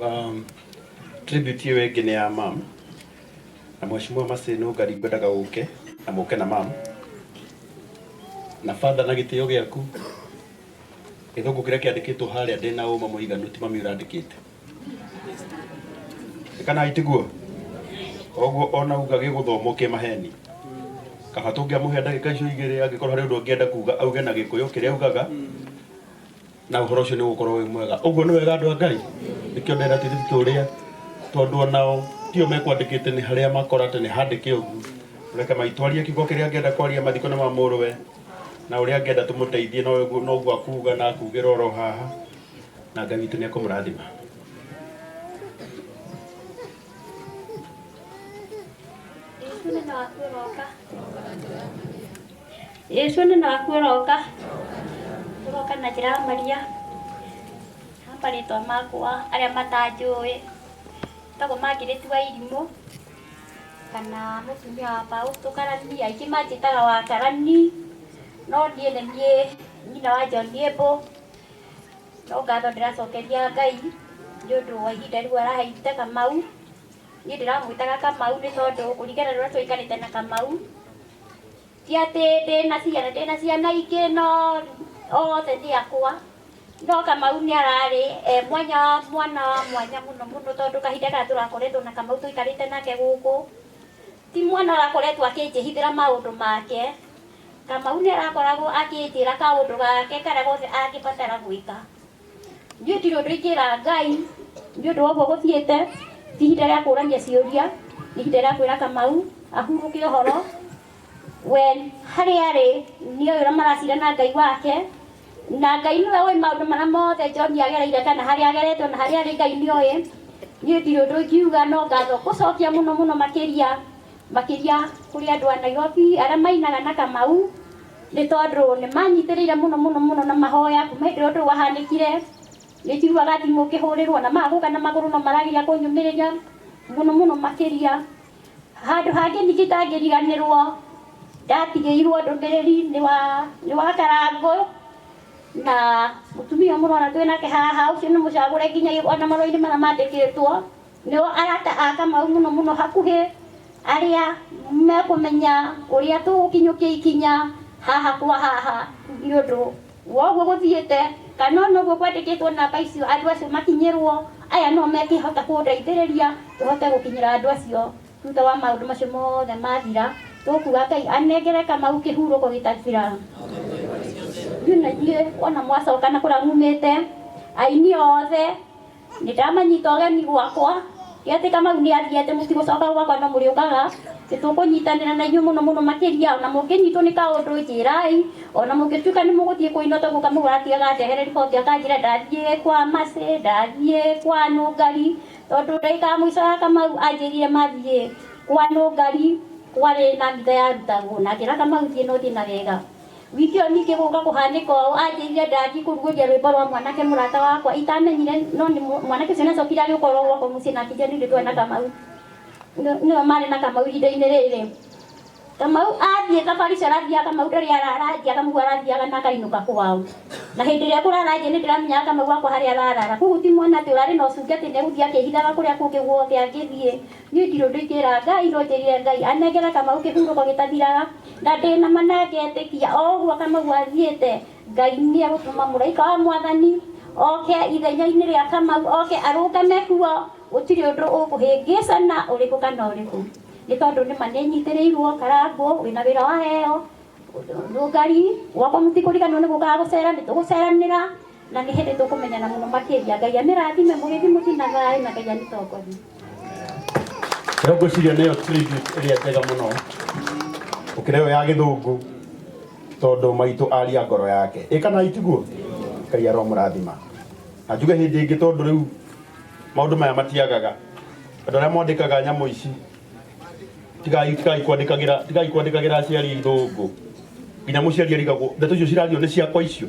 Um, tribute hiyo ĩngĩ nĩ ya mam na mheshimiwa Maseno Ngari ngwendaga ũke na mũke na mam na father na gĩtĩo gĩaku gĩthũngũ kĩrĩa kĩandĩkĩtwo harĩa ndĩ na ũma mũiganu ti mami ũrandĩkĩte kana itiguo koguo ona uga gĩgũthomwo kĩ maheni kaba tũngĩamũhe ndagĩka icio igĩrĩ angĩkorwo harĩ ũndũ ũngĩenda kuga auge na gĩkũyũ kĩrĩa augaga na ũhoro ũcio nĩ ũgũkorwo wĩ mwega ũguo nĩ wega andũ a ngai nĩkĩo ndenda tiribike ũrĩa tondũ onao tio mekwandĩkĩte nĩ harĩa makora atĩ nĩ handĩke ũguo reke maitwarie kiugo kĩrĩa angĩenda kwaria mathiko nĩ ma mũrũwe na ũrĩa angĩenda tũmũteithie no ũguo- no ũguo akuga na akugĩra oro haha na ngai witũ nĩ ekũmũrathima Yesu nĩ na waku ũroka. Yesu nĩ naku ũroka ũroka na njĩra ya Maria na marĩtwa makwa arĩa matanjũĩ tagwo mangĩrĩtu wa irimũ kana mũtumia wa Fausto karani aingĩ manjĩtaga wa karani no niĩ nĩ niĩ nyina wa John Yebo no ngatho ndĩracokeria Ngai nĩ ũndũ wa ihinda rĩu araheire Kamau. Niĩ ndĩramwĩtaga Kamau nĩ tondũ kũringana na ũrĩa tũikarĩte na Kamau, ti atĩ ndĩna ciana, ndĩna ciana ingĩ no othe nĩ akwa. No Kamau nĩ ararĩ e mwanya wa mwana wa mwanya mũno mũno tondũ kahinda karĩa tũrakoretwo na Kamau tũikarĩte nake gũkũ, ti mwana ũrakoretwo akĩnjĩhithĩra maũndũ make. Kamau nĩ arakoragwo akĩnjĩra kaũndũ gake karĩa gothe angĩbatara gwĩka. Gũtirĩ ũndũ ingĩra Ngai nĩ ũndũ wa ũguo gũthiĩte, ti ihinda rĩa kũũrania ciũria, nĩ ihinda rĩa kwĩra Kamau ahurũke ũhoro, we harĩa arĩ nĩ oĩ ũrĩa maracira na Ngai wake, na Ngai nĩwe ũĩ maũndũ marĩa mothe John agereire kana harĩa agerete ona harĩa arĩ Ngai nĩ oĩ, niĩ ndirĩ ũndũ ingiuga no ngatho gũcokia mũno mũno makĩria Makĩria kũrĩ andũ a Nairobi arĩa mainaga na Kamau nĩ tondũ nĩ manyitĩrĩire mũno mũno mũno na mahoya kuma hĩndĩ ĩrĩa ũndũ ũyũ wahanĩkire. Nĩ njiguaga thimũ ngĩhũrĩrwo na maga gũka na magũrũ no marageria kũnyũmĩrĩria mũno mũno makĩria. Handũ hangĩ ningĩ itangĩriganĩrwo ndatigĩirwo ndũmĩrĩri nĩ wa Karangũ na mũtumia ũyũ mũrona twĩ nake haha ũcio nĩ mũcagũre nginya ona marũa-inĩ marĩa mandĩkĩtwo. Nĩo arata a Kamau mũno mũno hakuhĩ arĩa mekũmenya ũrĩa tũgũkinyũkia ikinya haha kwa haha nĩ ũndũ wa ũguo gũthiĩte kana ona ũguo kwandĩkĩtwo namba icio andũ acio makinyĩrwo, aya nĩo mekĩhota kũndeithĩrĩria tũhote gũkinyĩra andũ acio thutha wa maũndũ macio mothe mathira. Tũkuga Ngai anengere Kamau kĩhurũko gĩtathira. Ithuĩ na ithuĩ ona mwacoka na kũrĩa mumĩte, aini othe. Nĩndamanyita ũgeni gwakwa, ngeetĩka mau nĩ athii atĩ mũtigũcooka gwakwa no mũrĩũkaga. Nĩtũkũnyitanĩra na inyuĩ mũno mũno makĩria. O na mũngĩnyitwo nĩ kaũndũ, njĩĩrai. O na mũngĩtuĩka nĩmũgũthiĩ kũu Inoto guka mũgũra atigaga andehere riboti akanjĩra ndathiĩ kwa Mercy, ndathiĩ kwa Nũngari, tondũ ndagĩka ya mũico ya Kamau anjĩrire mathiĩ kwa Nũngari kwarĩ na mbitha yarutagwo na akĩra Kamau thiĩ na ũthiĩ na wega. Wikio ningĩ gũka kũhanĩka ũũ, anjĩrire ndathiĩ kũrugũria rwĩmbo rwa mwanake mũrata wakwa itamenyire no nĩ mũ- mwanake ũcio nacokire agĩũka oro gwakwa mũciĩ na akĩnjĩra nĩ ithuĩ twarĩ na Kamau Nĩ- nĩo marĩ na Kamau ihinda-inĩ rĩrĩ Kamau athiĩ thabarĩ icio arathiaga Kamau ndarĩ arara nja Kamau arathiaga na akainũka kwao na hĩndĩ ĩrĩa ekũrara nja nĩ ndĩramenyaga Kamau wakwa harĩa ararara koguo ti mwana atĩ ũrarĩ na ũcuke atĩ nĩ egũthiĩ akĩhithaga kũrĩa kũngĩ guothe angĩthiĩ Niĩ ndirĩ ũndũ ingĩra Ngai no njĩrire Ngai anengere Kamau kĩhurũko gĩtathiraga na ndĩnama na ngetĩkia o ũguo Kamau athiĩte Ngai nĩegũtũma mũraika wa mwathani oke ithenyainĩ rĩa Kamau oke arũngame kuo gũtirĩ ũndũ ũkũhĩngĩcana ũrĩkũ kana ũrĩkũ nĩ tondũ nĩma nĩnyitĩrĩirwo Karangũ wĩna wĩra waheo Lugari gwakwa mũtikũriganĩrwo nĩgũkaga gũcera nĩtũgũceranĩra Na nĩ hĩndĩ tũkũmenyana mũno makĩria. Ngai amĩrathime mũgĩthiĩ mũciĩ na thayũ na Ngai amĩtongorie. Rĩu ngwĩciria nĩyo tribute ĩrĩa njega mũno gũkĩra ĩyo ya gĩthũngũ tondũ maitũ aria ngoro yake ĩ kana itiguo ngai aromũrathima na njuge hĩndĩ ĩngĩ tondũ rĩu maũndũ maya matiagaga andũ arĩa mwandĩkaga nyamũ ici tigai tigai kwandikagira tigai kwandikagira aciari thungu nginya muciari arigagwo ndeto icio cirario ni ciakwa icio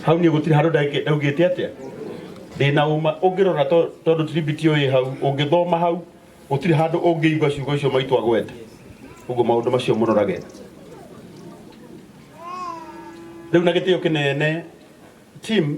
hau ni gutiri handu ndagike- ndaugite atia ndina uma ungirora to- tondu tiribiti uyi hau ungithoma hau gutiri handu ungiigua ciugo icio maitwa gwete uguo maundu macio murorage riu na gitio kinene team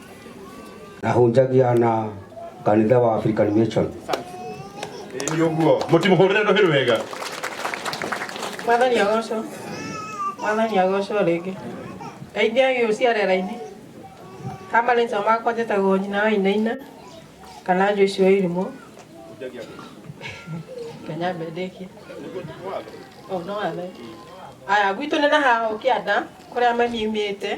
na hunjagia na kanitha wa African Mission nä å guo må timå hå rä re ndå hä rå wega mwathani agocwo mwathani agocwo rĩngĩ ndeithia gĩ ũciarera-inĩ ha marĩtwa makwa njĩtagwo nyina wa inaina kana joici wa irimũ kenya mbendĩkie o no wathe aya gwitũ nĩ na haha ũkĩanda kũrĩa mami imĩte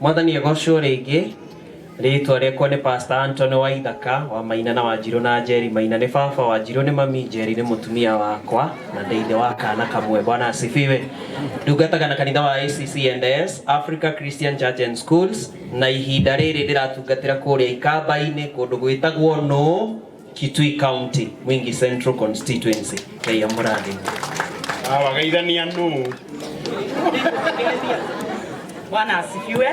Mwathani egocwo rĩngĩ, rĩtwa rĩakwa nĩ Pastor Anthony Waithaka, wa Maina na Wanjirũ na Njeri. Maina nĩ baba, Wanjirũ nĩ mami, Njeri nĩ mũtumia wakwa na ndĩ ithe wa kana kamwe. Bwana asifiwe. Ndungataga na kanitha wa ACCNS, Africa Christian Church and Schools, na ihinda rĩrĩ ndĩratungatĩra kũrĩa ikamba-inĩ kũndũ gwĩtagwo nũ? Kitui County, Mwingi Central Constituency, Kenya Muradi. Awageithania nũ. Bwana asifiwe.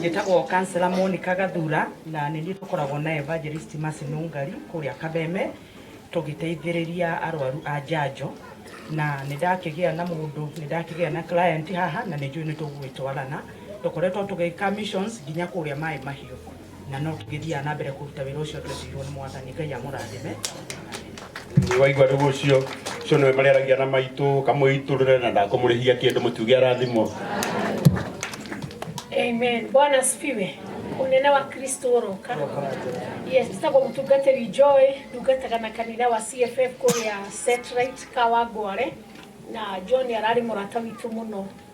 Njĩtagwo kansela Monica Gathura na nĩ niĩ tũkoragwo na Evangelist Mercy Nũngari kũrĩa Kabeme tũgĩteithĩrĩria arwaru a njanjo na nĩ ndakĩgĩa na mũndũ nĩ ndakĩgĩa na client haha na nĩ njũĩ nĩ tũgũgĩtwarana tũkoretwo tũgĩka missions nginya kũrĩa maĩ mahiũ na no tũgĩthiaga na mbere kũruta wĩra ũcio twetirwo nĩ mwathani ngai amũrathime waigua rĩu ũcio ũcio nĩwe marĩaragia na maitũ kamũitũrĩre na ndakũmũrĩhia kĩndũ mũtiuge arathimwo Amen. Bwana asifiwe. Unene wa Kristo uroka. Yes, tutagwo mutungatiri Joy ndungataga na kanitha wa CFF kuria Setrite Kawangware na John arari murata witu muno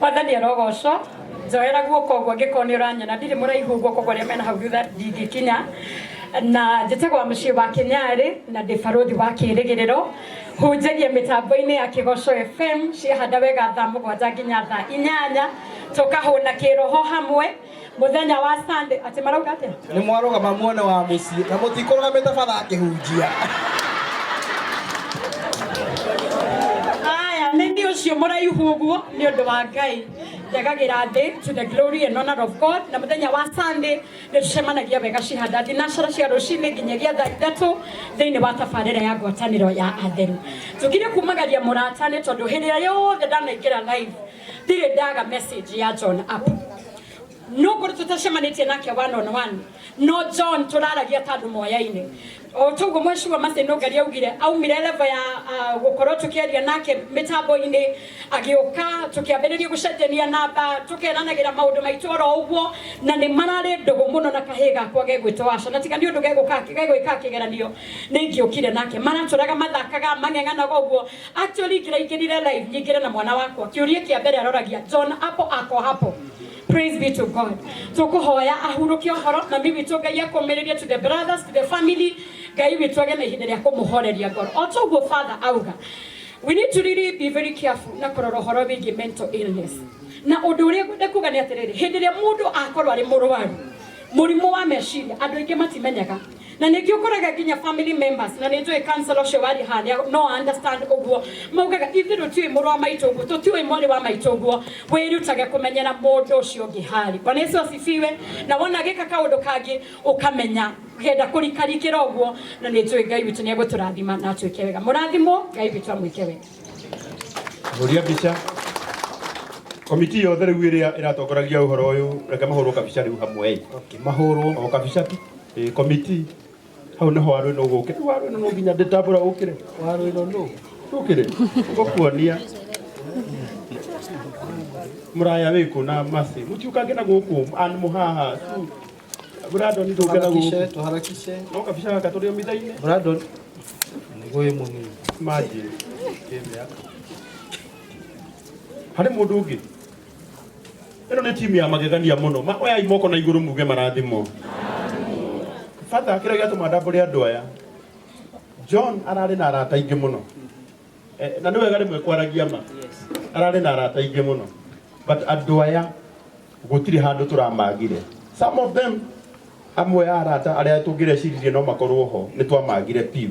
Wathani arogocwo njoera guoko ũguo ngĩkorwo nĩ ũranyona ndirĩ mũraihu ũguo koguo arĩa mena hau thutha ndingĩkinya na njĩtagwo wa mũciĩ wa kĩnyarĩ na ndĩ barũthi wa kĩrĩgĩrĩro hunjagia mĩtambo-inĩ ya kĩgoco fm ciahanda wega thaa mũgwanja nginya thaa inyanya tũkahũna kĩroho hamwe Mũthenya wa Sunday atĩ marauga atĩa? nĩ mwarũgama muone wa mũciĩ na mũtikũrũgamĩte bara akĩhunjia Aya nĩ nĩ ũcio mũraihu ũguo nĩ ũndũ wa Ngai njagagĩra thĩ to the glory and honor of God na mũthenya wa Sunday nĩ tũcemanagia wega cihanda thinacara cia rũcinĩ nginyagia thaa ithatũ thĩinĩ wa tabarĩra ya ngwatanĩro ya atheru tũkire kumagaria mũrata nĩ tondũ hĩndĩ ĩrĩa yothe ndanaingĩra live Pire daga message ya John app. No kuri tutashemanite nake one on one. No John turaragia tandu moyaine. O tugo mweshi wa mase no gari augire au mireleva ya uh, gukoro tukiaria nake mitambo ini agioka tukiambiriria gucetania namba tukeranagira maundu maitu oro uguo na ni marari ndugu muno na kahiga kwa gegwitwa aca na tiga ni undu geguka gegwika kigeranio ni ngiukire nake maraturaga mathakaga mang'eng'anaga uguo Actually ingĩra ingĩrire live nyingĩre na mwana wakwa kĩũria kĩa mbere aroragia John apo ako hapo Praise be to God. Tũkũhoya ahurũke ũhoro na mimi witũ Ngai akũmĩrĩrie to the brothers to the family. Ngai witũ agĩe na ihinda rĩa kũmũhoreria ngoro. O ta ũguo father auga. We need to really be very careful na kũrora ũhoro wĩgiĩ mental illness. Na ũndũ ũrĩa ngwenda kuga nĩ atĩrĩrĩ, hĩndĩ ĩrĩa mũndũ akorwo arĩ mũrwaru, mũrimũ wa meciria andũ aingĩ matimenyaga na nĩkĩo ũkoraga nginya family members na nĩ njũĩ kansela ũcio warĩ harĩa no understand ũguo maugaga ithuĩ tũtiũĩ mũrũ wa maitũ ũguo tũtiũĩ mwarĩ wa maitũ ũguo wĩrutage kũmenyera mũndũ ũcio ũngĩ harĩ bwana yesu asifiwe na wona agĩka kaũndũ kangĩ ũkamenya kenda kũrikarikĩra ũguo na nĩ njũĩ ngai witũ nĩ egũtũrathima na atwĩke wega mũrathimwo ngai witũ amwĩke wega Hũria mbica. Komiti yothe rĩu ĩrĩa ĩratongoragia ũhoro ũyũ, reke mahũrwo kabica rĩu hamwe. Okay, mahũrwo. O kabica tu. Ĩ komiti hau nĩho warũ ĩno ũgũkĩ rĩu warũ ĩno no nginya ndĩtambũra ũkĩre warũ ĩno nũ ũkĩre ũkuonia mũraya wĩkũ na masi mũtiũkange na gũkũ an mũhaha tu Brandon ndũke na gũkũ Tuharakishe, tuharakishe. no kabica gaka tũrĩ omitha-inĩ Brandon, ngũĩ mũnini. manjĩ harĩ mũndũ ũngĩ ĩno nĩ timu ya magegania mũno Ma- oyai moko na igũrũ muge marathimwo bata kĩrĩa gĩatũma ndambũre andũ aya john ararĩ na arata aingĩ mũno Eh, na nĩ wega rĩmwe kwaragia ma ararĩ na arata aingĩ mũno but andũ aya gũtirĩ handũ tũramagire some of them amwe a arata arĩa tũngĩreciririe no makorwo ho nĩ twamagire piu